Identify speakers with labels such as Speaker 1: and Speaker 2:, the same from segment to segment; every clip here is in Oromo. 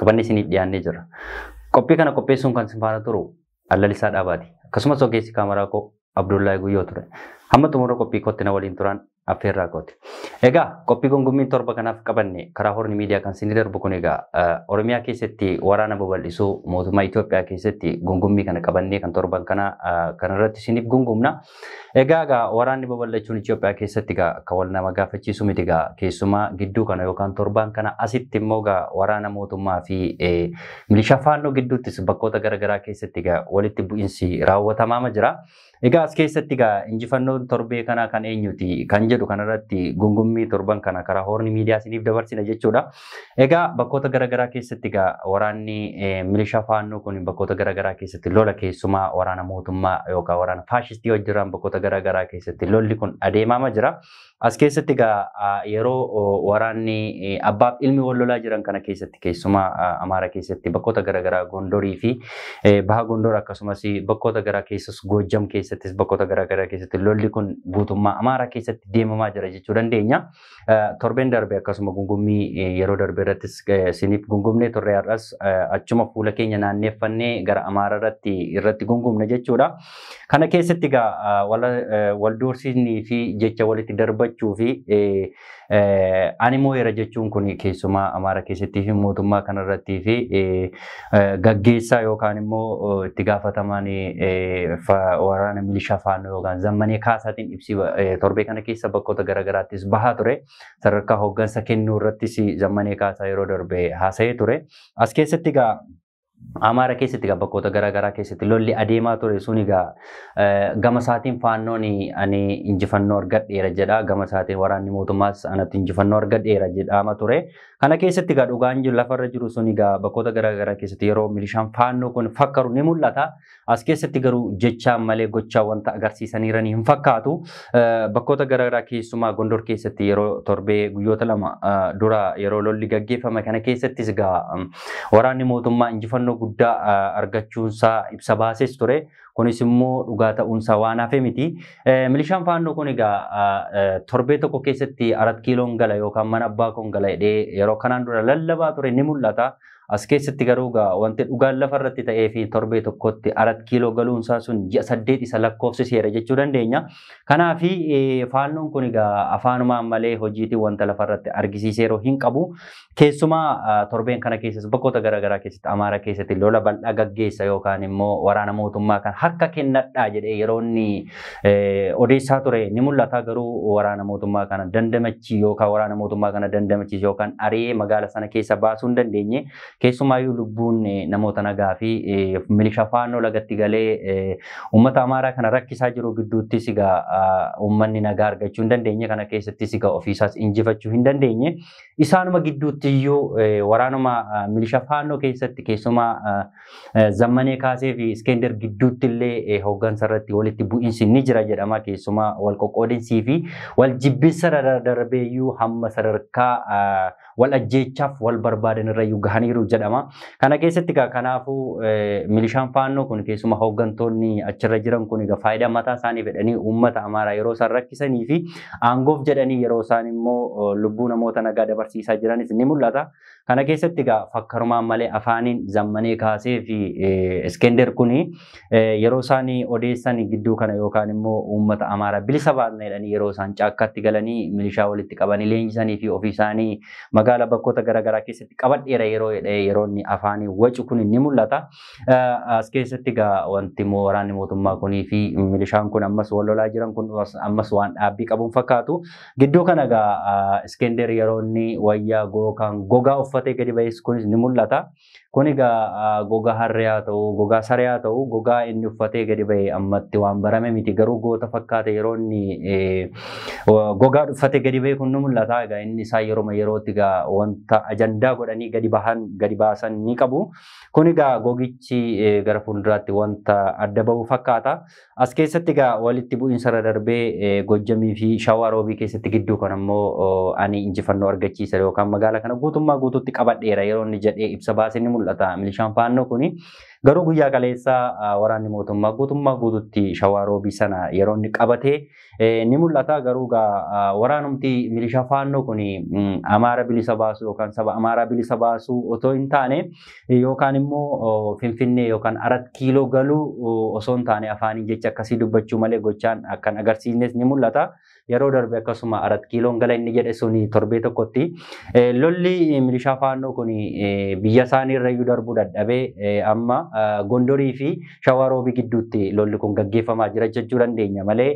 Speaker 1: qabanne isiniif dhiyaannee jirra. Qophii kana qopheessuun kan isin faana turu Allalisaa Dhaabaati. Akkasumas ogeessi kaameraa koo Abdullahi Guyyoo ture. Hamma xumura qophii kootti na waliin turan affeerraa kooti. Egaa qophii gungummiin torba kanaaf qabanne karaa horni miidiyaa kan isin darbu kun egaa Oromiyaa keessatti waraana babal'isuu mootummaa Itoophiyaa keessatti gungummii kana qabannee kan torban kana kanarratti isiniif gungumna. Egaa egaa waraanni babal'achuun Itoophiyaa keessatti egaa akka wal nama gaafachiisu miti egaa keessumaa gidduu kana yookaan torbaan kana asitti immoo egaa waraana mootummaa fi milishaa faannoo gidduuttis bakkoota garaagaraa keessatti egaa walitti bu'insi raawwatamaama jira. Egaa as keessatti egaa injifannoon torbee kanaa kan eenyuti kan jedhu kanarratti gungummii torban kana karaa hoorni miidiyaa isiniif dabarsina jechuudha. Egaa bakkoota garaagaraa keessatti egaa waraanni milishaa faannoo kun bakkoota garaagaraa keessatti lola keessumaa waraana mootummaa yookaan waraana faashistii hojjetaan bakkoota garaagaraa keessatti lolli kun adeemaama jira. As keessatti egaa yeroo waraanni abbaaf ilmi wal lolaa jiran kana keessatti keessumaa Amaara keessatti bakkoota garaagaraa Gondorii fi Baha Gondor akkasumas bakkoota garaa keessas Goojjam keessattis bakkoota garaagaraa keessatti lolli kun guutummaa Amaara keessatti deemamaa jira jechuu dandeenya. Torbeen darbe akkasuma gungummii yeroo darbe irrattis isiniif gungumnee turre har'as achuma fuula keenya naanneeffannee gara Amaara irratti irratti gungumne jechuudha. Kana keessatti egaa wal doorsisnii fi jecha walitti darbachuu fi ani moo'eera jechuun kun keessumaa Amaara keessattii fi mootummaa kanarrattii fi gaggeessaa yookaan immoo itti gaafatamaan waraana milishaa faannoo yookaan zammanee kaasaatiin ibsi torbee kana keessa bakkoota garaagaraattis bahaa ture. Sadarkaa hooggansa kennuu irrattis zammanee kaasaa yeroo darbe haasa'ee ture. As keessatti egaa Amaara keessatti egaa bakkoota garaagaraa keessatti lolli adeemaa ture sun egaa gama isaatiin faannoon ani injifannoo argadheera jedha. Gama isaatiin waraanni mootummaas anatti injifannoo argadheera jedhama ture. Kana keessatti egaa dhugaan jiru lafarra jiru sun egaa bakkoota garaa garaa keessatti yeroo milishaan faannoo kun fakkaru ni mul'ata. As keessatti garuu jechaan malee gochaa wanta agarsiisaniiran hin fakkaatu. Bakkoota garaa garaa keessumaa Gondor keessatti yeroo torbee guyyoota lama dura yeroo lolli gaggeeffame kana keessattis egaa waraanni mootummaa injifannoo guddaa argachuunsaa ibsa baases ture. Kunis immoo dhugaa ta'uunsaa waan hafe miti. Milishaan faannoo kun egaa torbee tokko keessatti arat kiiloon gala yookaan mana abbaa koon gala jedhee yeroo kanaan dura lallabaa ture ni mul'ata. As keessatti garuu egaa wanti dhugaan lafa irratti ta'ee fi torbee tokkotti arat kiiloo galuunsaa sun ji'a saddeet isa lakkoofsiseera jechuu dandeenya. Kanaaf faannoon kun egaa afaanumaan malee hojiitiin wanta lafa irratti argisiiseeru hin qabu. Keessumaa torbeen kana keessas bakkoota garaagaraa keessatti Amaara keessatti lola bal'aa gaggeessa yookaan immoo waraana mootummaa kan harka kennadhaa jedhee yeroo inni odeessaa ture ni mul'ata garuu waraana mootummaa kana dandamachi yookaan waraana mootummaa kana dandamachiis yookaan ari'ee magaala sana keessa baasuu hin dandeenye keessumaayyuu lubbuun namoota nagaa fi milishaa faannoo lagatti galee uummata Amaaraa kana rakkisaa jiru gidduuttis egaa uummanni nagaa argachuu hin dandeenye kana keessattis egaa ofiisaas injifachuu hin dandeenye Isaanuma gidduutti iyyuu waraanuma milisha faannoo keessatti keessumaa zammanee kaasee fi iskender gidduutti illee hooggansa irratti walitti bu'iinsi ni jira jedhama keessumaa wal qoqqoodinsii fi wal jibbinsa darbee iyyuu hamma sadarkaa wal ajjeechaaf wal barbaadan irra iyyuu gahaniiru jedhama. Kana keessatti egaa kanaafuu milishaan faannoo kun keessuma hooggantoonni achirra jiran kun egaa faayidaa mataa isaanii fedhanii uummata amaaraa yeroo isaan rakkisanii fi aangoof jedhanii yeroo isaan immoo lubbuu namoota nagaa dabarsiisaa jiranis ni mul'ata. Kana keessatti egaa fakkarumaan malee afaaniin zammanee kaasee fi Iskender kun yeroo isaan odeessan gidduu kana yookaan immoo uummata Amaaraa bilisa baasna jedhanii yeroo isaan caakkaatti galanii milishaa walitti qabanii leenjisanii fi ofii isaanii magaalaa bakkoota garaagaraa keessatti qabadheera yeroo jedhee yeroo inni afaanii wacu kun ni mul'ata. As keessatti egaa wanti immoo waraanni mootummaa kunii fi milishaan kun ammas wal lolaa jiran kun ammas waan dhaabbii qabuun fakkaatu. Gidduu kana egaa Iskender yeroo inni wayyaa gookaan gogaa uffatee gadi ba'es kunis ni mul'ata. Kun egaa gogaa harree haa ta'u, gogaa saree haa ta'u, gogaa inni uffatee gadi ba'e ammatti waan barame miti. Garuu goota fakkaate yeroo inni gogaa uffatee gadi ba'e kun ni mul'ata. Egaa inni isaa yeroo yerootti egaa wanta ajandaa godhanii gadi bahan gadi baasan ni qabu. Kun egaa gogichi gara fuulduraatti wanta adda bahu fakkaata. As keessatti egaa walitti bu'iinsa irra darbee Gojjamii fi Shawaa Roobii keessatti gidduu kan ammoo ani injifannoo argachiisa yookaan magaala kana guutummaa guutuutti qabadheera yeroo inni jedhee ibsa baase ni mul'ata. Milishaan faannoo kuni garuu guyyaa kaleessaa waraanni mootummaa guutummaa guutuutti Shawaa Roobii sana yeroo inni qabatee ni mul'ata garuu egaa waraanumti milishaa faannoo kun Amaara bilisa baasuu yookaan saba Amaaraa bilisa baasuu otoo hin taane yookaan immoo Finfinnee yookaan Arat Kiiloo galuu osoo hin taane afaaniin jecha akkasii dubbachuu malee gochaan akkan agarsiisnes ni mul'ata. Yeroo darbe akkasuma Arat Kiiloon gala inni jedhe sun torbee tokkotti lolli milishaa faannoo kun biyya isaanii irra iyyuu darbuu dadhabee amma Gondorii fi Shawaa Roobii gidduutti lolli kun gaggeeffamaa jira jechuu dandeenya malee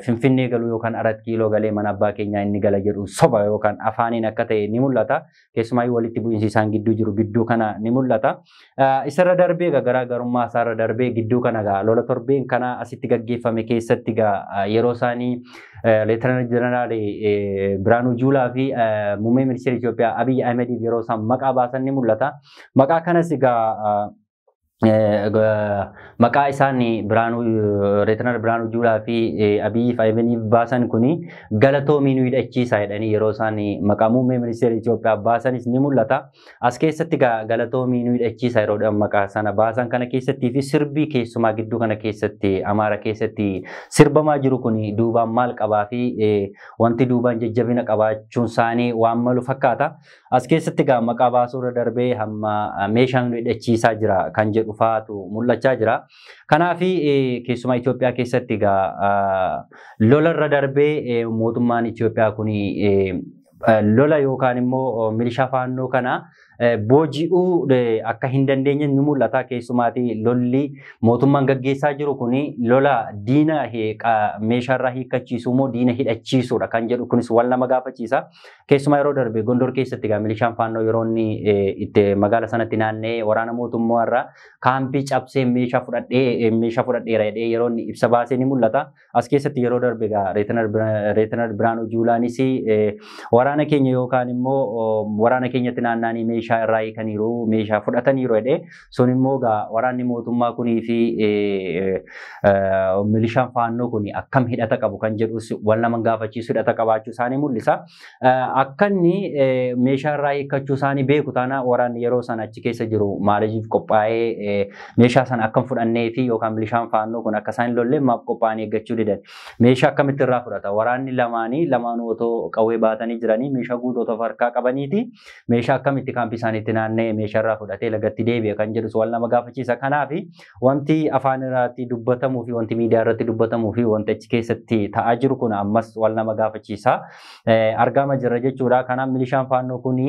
Speaker 1: Finfinnee galuu yookaan Arat Kiiloo galee mana abbaa keenyaa inni gala jedhu soba yookaan afaaniin akka ta'e ni mul'ata. Keessumaayyuu walitti bu'iinsi isaan gidduu jiru gidduu kana ni mul'ata. Isarra darbee egaa garaagarummaa isaarra darbee gidduu kana egaa lola torbeen kana asitti gaggeeffame keessatti egaa yeroo isaanii Leetanaal Jeneraal Biraanuu Juulaa fi Muummee Ministeera Itoophiyaa Abiyyi Ahimediif yeroo isaan maqaa baasan ni mul'ata. Maqaa kanas egaa maqaa isaan Biraanuu Reetinar Biraanuu Juulaa fi Abiyyi Faayimaniif baasan kun galatoomi nu hidhachiisaa jedhanii yeroo isaan maqaa muummee ministeera Itoophiyaa baasanis ni mul'ata. As keessatti galatoomi nu hidhachiisaa yeroo maqaa sana baasan kana keessattii fi sirbii keessumaa gidduu kana keessatti Amaara keessatti sirbamaa jiru kun duubaan maal qabaa fi wanti duubaan jajjabina qabaachuun isaanii waan malu fakkaata. As keessatti egaa maqaa baasuu irra darbee hamma meeshaan nu hidhachiisaa jira kan jedhu fa'aatu mul'achaa jira. Kanaaf keessumaa Itoophiyaa keessatti egaa lola irra darbee mootummaan Itoophiyaa kun lola yookaan immoo milishaa faannoo kana booji'uu akka hin dandeenye ni mul'ata. Keessumaatii lolli mootummaan gaggeessaa jiru kun lola diina meeshaarraa hiikkachiisuu moo diina hidhachiisuudha kan jedhu kunis wal nama gaafachiisa. Keessumaa yeroo darbe Gondor keessatti egaa milishaan faannoo yeroo inni itti magaala sanatti naanna'ee waraana mootummaa irraa kaampii cabsee meeshaa fudhadhee meeshaa fudhadheera jedhee yeroo inni ibsa baasee ni mul'ata. As keessatti yeroo darbe egaa Reetinar Biraanuu Juulaanis waraana keenya yookaan immoo waraana keenyatti naanna'anii meeshaa irraa hiikaniiru meeshaa fudhataniiru jedhee Sun immoo egaa waraanni mootummaa kunii fi milishaan faannoo kun akkam hidhata qabu kan jedhus wal nama gaafachiisu hidhata qabaachuu isaanii mul'isa. Akka inni meeshaa irraa hiikkachuu isaanii beeku taana waraanni yeroo sana achi keessa jiru maaliif qophaa'ee meeshaa sana akkam fudhannee fi yookaan milishaan faannoo kun akka isaan hin lolle maaf qophaa'anii eeggachuu didan. Meeshaa akkamitti irraa fudhata? Waraanni lamaanii lamaanuu otoo qawwee baatanii jiranii meeshaa guutuu otoo harkaa qabaniiti. meeshaa akkamitti kaampii isaaniitti naanna'ee meeshaarraa fudhatee lagatti deebi'e kan jedhus wal nama gaafachiisa. Kanaaf wanti afaan irratti dubbatamuu fi wanti miidiyaa irratti dubbatamuu fi wanti achi keessatti ta'aa jiru kun ammas wal nama gaafachiisa. Argaama jirra jechuudha. Kanaaf milishaan faannoo kun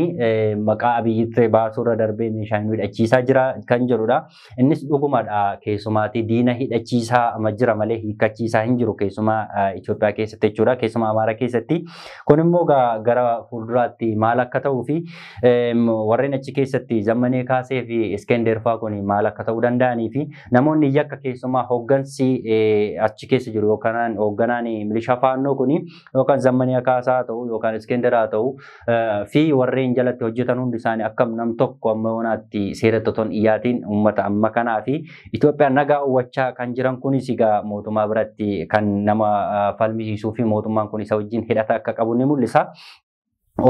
Speaker 1: maqaa abiyyitti baasuurra darbee meeshaa nu hidhachiisaa jira kan jedhudha. Innis dhugumadha keessumaatii diina hidhachiisaa ama jira malee hiikkachiisaa hin jiru keessumaa Itoophiyaa keessatti jechuudha. Keessumaa Amaaraa keessatti. Kun immoo gara fuulduraatti maal akka ta'uu fi warreen achi keessatti zammanee kaasee fi Iskender fa'aa kun maal akka ta'uu danda'anii fi namoonni yakka keessumaa hooggansi achi keessa jiru yookaan hoogganaan milishaa faannoo kun yookaan zammanii akaasaa haa ta'u yookaan iskenderaa haa ta'u fi warreen jalatti hojjetan hundi isaanii akkam nam tokko amma yoonaatti seera toton iyyaatiin uummata amma kanaa fi Itoophiyaa nagaa uwwachaa kan jiran kunis egaa mootummaa biratti kan nama falmisiisuu fi mootummaan kun isa wajjin hidhata akka qabu ni mul'isa.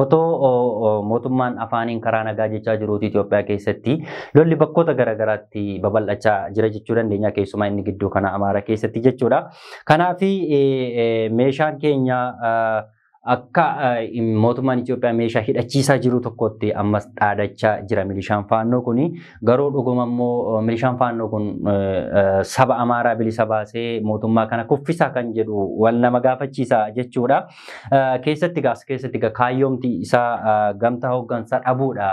Speaker 1: Otoo mootummaan afaaniin karaa nagaa jechaa jiruuti Itoophiyaa keessatti lolli bakkoota garaagaraatti babal'achaa jira jechuu dandeenya keessumaa inni gidduu kana Amaara keessatti jechuudha. Kanaaf meeshaan keenya akka mootummaan Itoophiyaa meeshaa hidhachiisaa jiru tokkotti ammas dhaadachaa jira milishaan faannoo kuni. Garuu dhuguma immoo milishaan faannoo kun saba Amaaraa bilisa baasee mootummaa kana kuffisaa kan jedhu wal nama gaafachiisa jechuudha. Keessatti gaas keessatti ga kaayyoomti isaa gamtaa hooggansaa dhabuudha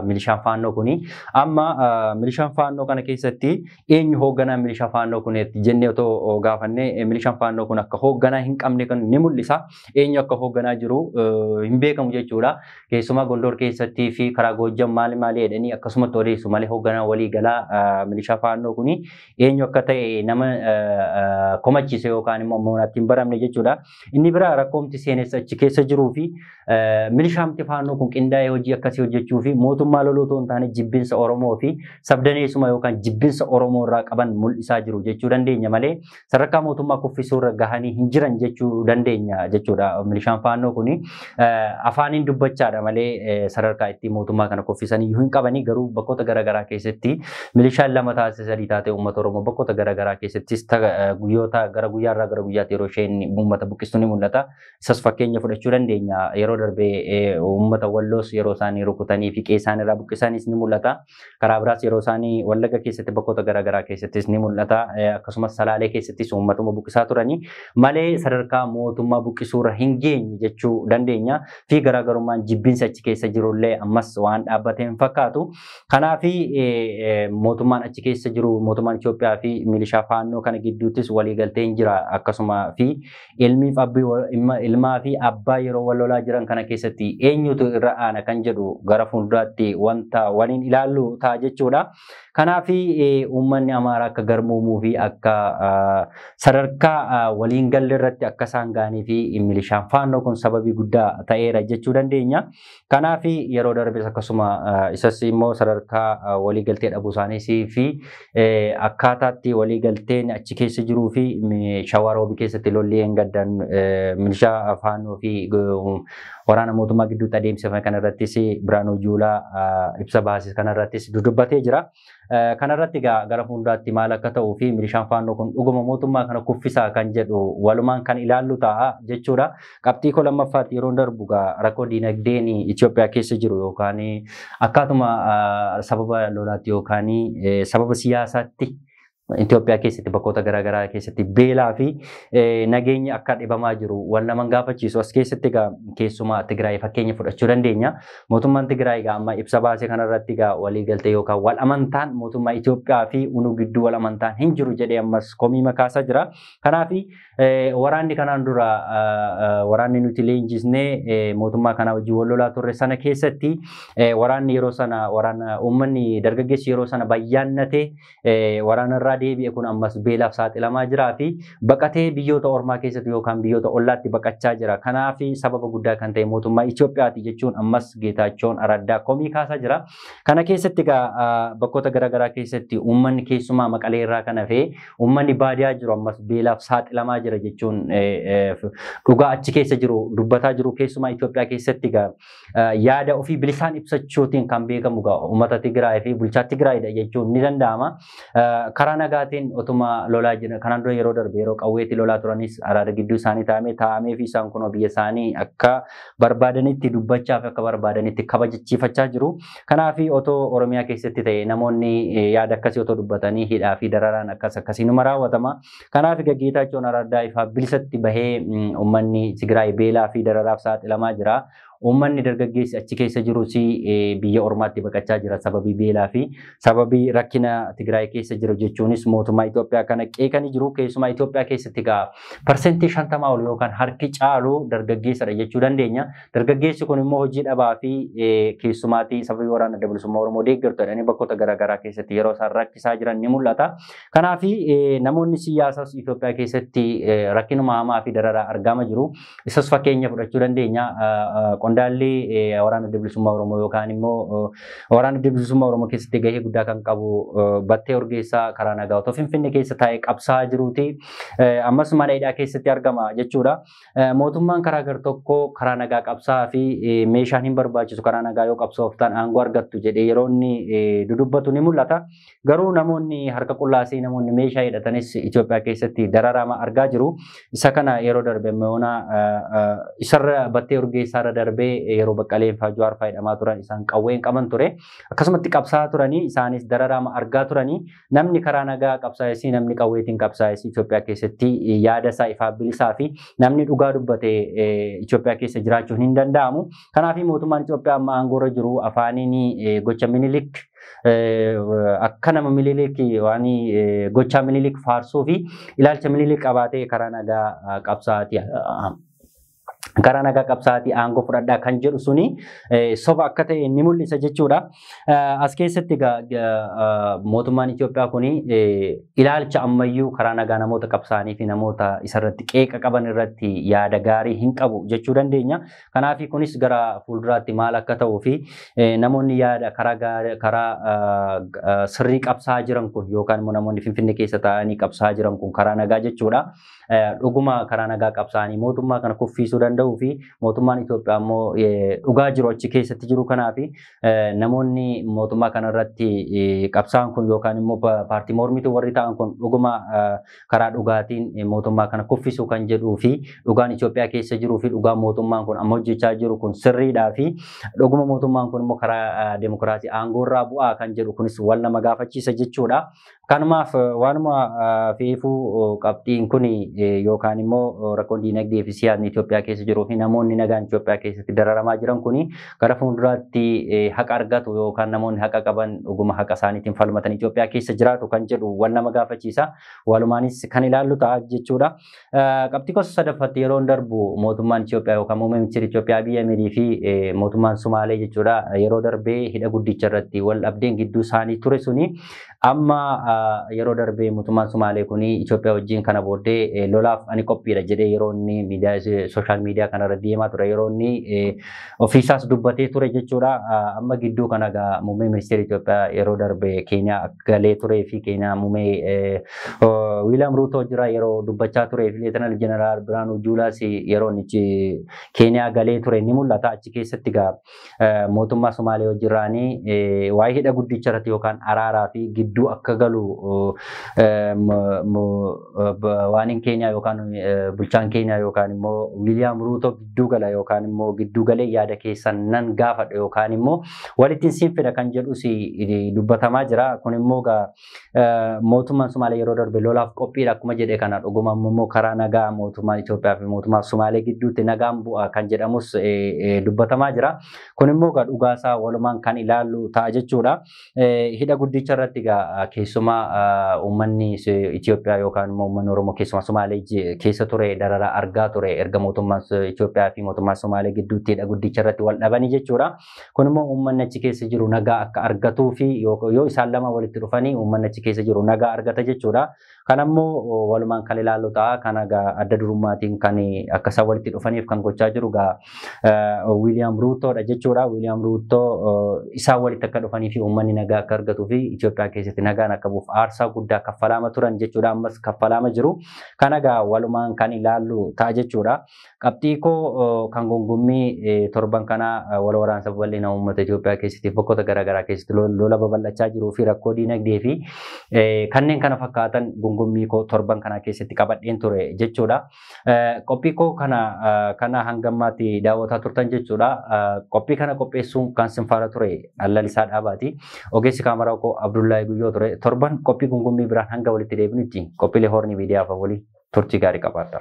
Speaker 1: milishaan faannoo kuni. Amma milishaan faannoo kana keessatti eenyu hoogganaa milishaa faannoo kuneetti jennee otoo gaafannee milishaan faannoo kun akka hoogganaa hin qabne kan ni mul'isa. Eenyu akka hoogganaa jiru hin beekamu jechuudha. Keessumaa Gondor keessattii fi karaa Goojjam maali maali jedhanii akkasumatti odeessu malee hoogganaa walii galaa milishaa faannoo kuni eenyu akka ta'e nama komachiise yookaan immoo moonaatti hin baramne jechuudha. Inni biraa rakkoomti seenessa achi keessa jiruu fi milishaamti faannoo kun qindaa'ee hojii akkasii hojjechuu fi mootummaa loluu otoo hin taane jibbinsa Oromoo fi sabdaneessuma yookaan jibbinsa Oromoo irraa qaban mul'isaa jiru jechuu dandeenya malee sadarkaa mootummaa kuffisuu irra gahanii hin jiran jechuu dandeenya jechuudha milishaan faannoo kuni. afaaniin dubbachaadha malee sadarkaa ittiin mootummaa kana kuffisan iyyuu hin qabanii garuu bakkoota garaagaraa keessatti milishaan lama taasise sadii taatee uummata Oromoo bakkoota garaagaraa keessattis guyyoota gara guyyaarraa gara guyyaatti yeroo isheen uummata buqqistu ni mul'ata. Isas fakkeenya fudhachuu dandeenya yeroo darbee uummata walloos yeroo isaanii rukutanii fi qe'ee isaaniirraa buqqisanis ni mul'ata. Karaa biraas yeroo isaan Wallagga keessatti bakkoota garaagaraa keessattis ni mul'ata. Akkasumas Salaalee keessattis uummatuma buqqisaa turanii malee sadarkaa mootummaa buqqisuurra hin geenye jechuu dandeenya. Fi garaagarummaan jibbinsi achi keessa jirullee ammas waan dhaabbate hin fakkaatu. Kanaaf mootummaan achi keessa jiru mootummaan Itoophiyaa fi milishaa faannoo kana gidduuttis waliigalteen jira akkasuma fi Ilmiif abbi ilmaa fi abbaa yeroo wal lolaa jiran kana keessatti eenyutu irra aana kan jedhu gara fuulduraatti wanta waliin ilaallu ta'a jechuudha. Kanaaf uummanni Amaaraa akka garmuumuu fi akka sadarkaa waliin galle irratti akka isaan ga'anii fi milishaan faannoo kun sababii guddaa ta'eera jechuu dandeenya. Kanaaf yeroo darbes akkasuma isas immoo sadarkaa waliigaltee dhabuu isaaniis fi akkaataatti waliigalteen achi keessa jiruu fi shawaa roobii keessatti lolli gaddan milishaa faannoo fi waraana mootummaa gidduutti adeemsifame kanarrattis Biraanuu Juulaa ibsa baasise kanarrattis dudubbatee jira. Kanarratti egaa gara fuulduraatti maal akka ta'uu fi milishaan faannoo kun dhuguma mootummaa kana kuffisaa kan jedhu walumaan kan ilaallu ta'a jechuudha. Qabxii koo lammaffaatti yeroo darbu egaa rakkoo diinagdeen Itoophiyaa keessa jiru yookaan akkaatuma sababa lolaatti yookaan sababa siyaasaatti Itoophiyaa keessatti bakkoota garaagaraa keessatti beelaa fi nageenyi akka dhibamaa jiru wal naman gaafachiisu as keessatti egaa keessumaa Tigraay fakkeenya fudhachuu dandeenya. Mootummaan Tigraay egaa amma ibsa baase kanarratti egaa waliigaltee yookaan wal amantaan mootummaa Itoophiyaa fi unuu gidduu wal amantaan hin jiru jedhee ammas komii makaasaa jira. Kanaaf waraanni kanaan dura waraanni nuti leenjisnee mootummaa kanaa wajjin wal lolaa turre sana keessatti waraanni yeroo sana waraana uummanni dargaggeessi yeroo sana bayyaannatee waraanarraa deebi'e kun ammas beelaaf saaxilamaa jiraa fi baqatee biyyoota ormaa keessatti yookaan biyyoota ollaatti baqachaa jira. Kanaaf sababa guddaa kan ta'e mootummaa Itoophiyaati jechuun ammas Geetaachoon Araddaa komii kaasaa jira. Kana keessatti egaa bakkoota garaagaraa keessatti uummanni keessumaa maqalee irraa kan hafee uummanni baadiyaa jiru ammas beelaaf saaxilamaa jira jechuun dhugaa achi keessa jiru dubbataa jiru keessumaa Itoophiyaa keessatti egaa yaada ofii bilisaan ibsachuutiin kan beekamu ga'a. Uummata Tigraay fi bulchaa Tigraayidha jechuun ni danda'ama. Karaa nagaatiin otuma lolaa jiran kanaan dura yeroo darbe yeroo qawweetti lolaa turanis araada gidduu isaanii taa'amee taa'amee fi isaan kun biyya isaanii akka barbaadanitti dubbachaa fi akka barbaadanitti kabajachiifachaa jiru. Kanaaf otoo Oromiyaa keessatti ta'e namoonni yaada akkasii otoo dubbatanii hidhaa fi dararaan akkas akkasii numa raawwatama. Kanaaf egaa Geetaachoon Araardaa ifaa bilisatti bahee uummanni Tigraay beelaa fi dararaaf saaxilamaa jira. Uummanni dargaggeessi achi keessa jirus biyya ormaatti baqachaa jira sababii beelaa fi sababii rakkina Tigraay keessa jiru jechuunis mootummaa Itoophiyaa kana qeeqanii jiru. Keessumaa Itoophiyaa keessatti egaa parsentii shantamaa ol yookaan harki caalu dargaggeessadha jechuu dandeenya. Dargaggeessi kun immoo hojii dhabaa fi keessumaatii sababii waraana dabalisummaa Oromoo deeggartu jedhanii bakkoota garaagaraa keessatti yeroo isaan rakkisaa jiran ni mul'ata. Kanaaf namoonni siyaasaas Itoophiyaa keessatti rakkinuma hamaa fi dararaa argaama jiru. Isas fakkeenya fudhachuu dandeenya. Qondaalli waraana bilisummaa Oromoo yookaan immoo waraana bilisummaa Oromoo keessatti gahee guddaa kan qabu battee urgeessaa karaa nagaa otoo Finfinnee keessa taa'ee qabsaa jiruuti. Ammas mana hidhaa keessatti argama jechuudha. Mootummaan karaa gartokkoo karaa nagaa qabsaa fi meeshaan hin barbaachisu karaa nagaa yoo qabsooftan aangoo argattu jedhee yeroo inni dudubbatu ni mul'ata. Garuu namoonni harka qullaa fi namoonni meeshaa hidhatanis Itoophiyaa keessatti dararama argaa jiru. Isa kana yeroo darbe Meona isarra battee urgeessaarra darbee yeroo baqqaleen faa Jawaar faa hidhamaa turan isaan qawween qaban ture. Akkasumatti qabsaa'aa turanii isaanis dararama argaa turanii namni karaa nagaa qabsaa'essi namni qawweetiin qabsaa'essi Itoophiyaa keessatti yaada isaa ifaa bilisaa fi namni dhugaa dubbate Itoophiyaa keessa jiraachuun hin danda'amu. Kanaaf mootummaan Itoophiyaa amma aangoorra jiru afaaniin gocha minilik akka nama Minilik waan gochaa Minilik faarsuu fi ilaalcha Minilik qabaatee karaa nagaa qabsaa'aati karaa nagaa qabsaa'aati aangoo fudhadhaa kan jedhu suni soba akka ta'e ni mul'isa jechuudha. As keessatti mootummaan Itoophiyaa kun ilaalcha ammayyuu karaa nagaa namoota qabsaa'anii fi namoota isarratti qeeqa qaban irratti yaada gaarii hin qabu jechuu dandeenya. Kanaaf kunis gara fuulduraatti maal akka ta'uu fi namoonni yaada karaa sirrii qabsaa jiran kun yookaan immoo namoonni Finfinnee keessa taa'anii qabsaa jiran kun karaa nagaa jechuudha. Dhuguma karaa nagaa qabsaa'anii mootummaa kana kuffiisuu danda'uu fi mootummaan Itoophiyaa immoo dhugaa jiru achi keessatti jiru kanaaf namoonni mootummaa kanarratti qabsaa'an kun yookaan immoo paartii mormituu warri ta'an kun dhuguma karaa dhugaatiin mootummaa kana kuffisuu kan jedhuu fi dhugaan Itoophiyaa keessa jiruu fi dhugaan mootummaan kun amma hojjechaa jiru kun sirriidhaa fi dhuguma mootummaan kun immoo karaa demokiraasii aangoorraa bu'aa kan jedhu kunis wal nama gaafachiisa jechuudha. Kanumaaf waanuma feefuu qabxiin kun yookaan immoo rakkoon diinagdee fi siyaasni Itoophiyaa keessa jiruu fi namoonni nagaan Itoophiyaa keessatti dararamaa jiran kun gara fuulduraatti haqa argatu yookaan namoonni haqa qaban dhuguma haqa isaaniitiin falmatan Itoophiyaa keessa jiraatu kan jedhu wal nama gaafachiisa. Walumaanis kan ilaallu ta'a jechuudha. Qabxii gosa sadaffatti yeroon darbu mootummaan Itoophiyaa yookaan muummee ministeera Itoophiyaa Abiy Ahimedii fi mootummaan Sumaalee jechuudha yeroo darbee hidha guddicha irratti wal dhabdeen gidduu isaanii ture suni Amma yeroo darbee mootummaan Sumaalee kun Itoophiyaa wajjin kana booddee lolaaf ani qophiidha jedhee yeroo inni miidiyaa sooshaal miidiyaa kanarra deemaa ture yeroo inni ofiisaas dubbatee ture jechuudha. Amma gidduu kana egaa muummee ministeera Itoophiyaa yeroo darbe Keeniyaa galee turee fi Keeniyaa muummee Wiiliyaam Ruutoo jira yeroo dubbachaa turee fi Leetanaal Jeneraal Birhaanuu Juulaas yeroo inni Keeniyaa galee ture ni mul'ata achi keessatti egaa mootummaa Somaalee wajjirraanii waa'ee hidha guddicha irratti yookaan araaraa fi gidduu akka galu waaniin keenyaa yookaan bulchaan keenyaa yookaan immoo Wiiliyaam Ruutoo gidduu gala yookaan immoo gidduu galee yaada keessan nan gaafadha yookaan immoo walittiin siin fida kan jedhus dubbatamaa jira. Kun immoo mootummaan Sumaalee yeroo darbe lolaaf qophiidha akkuma jedhe kana dhuguma immoo karaa nagaa mootummaan Itoophiyaa fi mootummaa Sumaalee gidduutti nagaan bu'a kan jedhamus dubbatamaa jira. Kun immoo egaa dhugaasaa walumaan kan ilaallu ta'a jechuudha. Hidha guddicha irratti egaa keessumaa uummanni Itoophiyaa yookaan immoo uummanni Oromoo keessumaa Sumaalee keessa ture dararaa argaa ture erga mootummaan Itoophiyaa fi mootummaa Sumaalee gidduutti hidha guddicha irratti wal dhabanii jechuudha. Kun immoo uummanni achi keessa jiru nagaa akka argatuu fi yoo isaan lama walitti dhufanii uummanni achi keessa jiru nagaa argata jechuudha. Kana immoo walumaan kan ilaallu ta'a. Kana egaa adda durummaatiin kan akka isaan walitti dhufaniif kan gochaa jiru egaa Wiiliyaam Ruutoodha jechuudha. Wiiliyaam Ruutoo isaan walitti akka dhufanii fi uummanni nagaa akka argatuu fi Itoophiyaa keessatti nagaan akka bu'uuf aarsaa guddaa kaffalaama turan jechuudha. Ammas kaffalaama jiru. Kana egaa walumaan kan ilaallu ta'a jechuudha. Qabxii koo kan gongommii torban kanaa wal waraansa babal'ina uummata Itoophiyaa keessatti bakkoota garaagaraa keessatti lola babal'achaa jiruu fi rakkoo diinagdee fi kanneen kana fakkaatan gongommii koo torban kanaa keessatti qabadheen ture jechuudha. Qophii koo kana kana hanga ammaatti daawwataa turtan jechuudha. Qophii kana qopheessuun kan sin faana ture Allalisaa Dhaabaati. Ogeessi kaameraa koo Abdullahi Guyyoo ture. Torban qophii gongommii biraan hanga walitti deebinutti qophiilee hoorni miidiyaa afaan waliin. turtii gaarii qabaadha.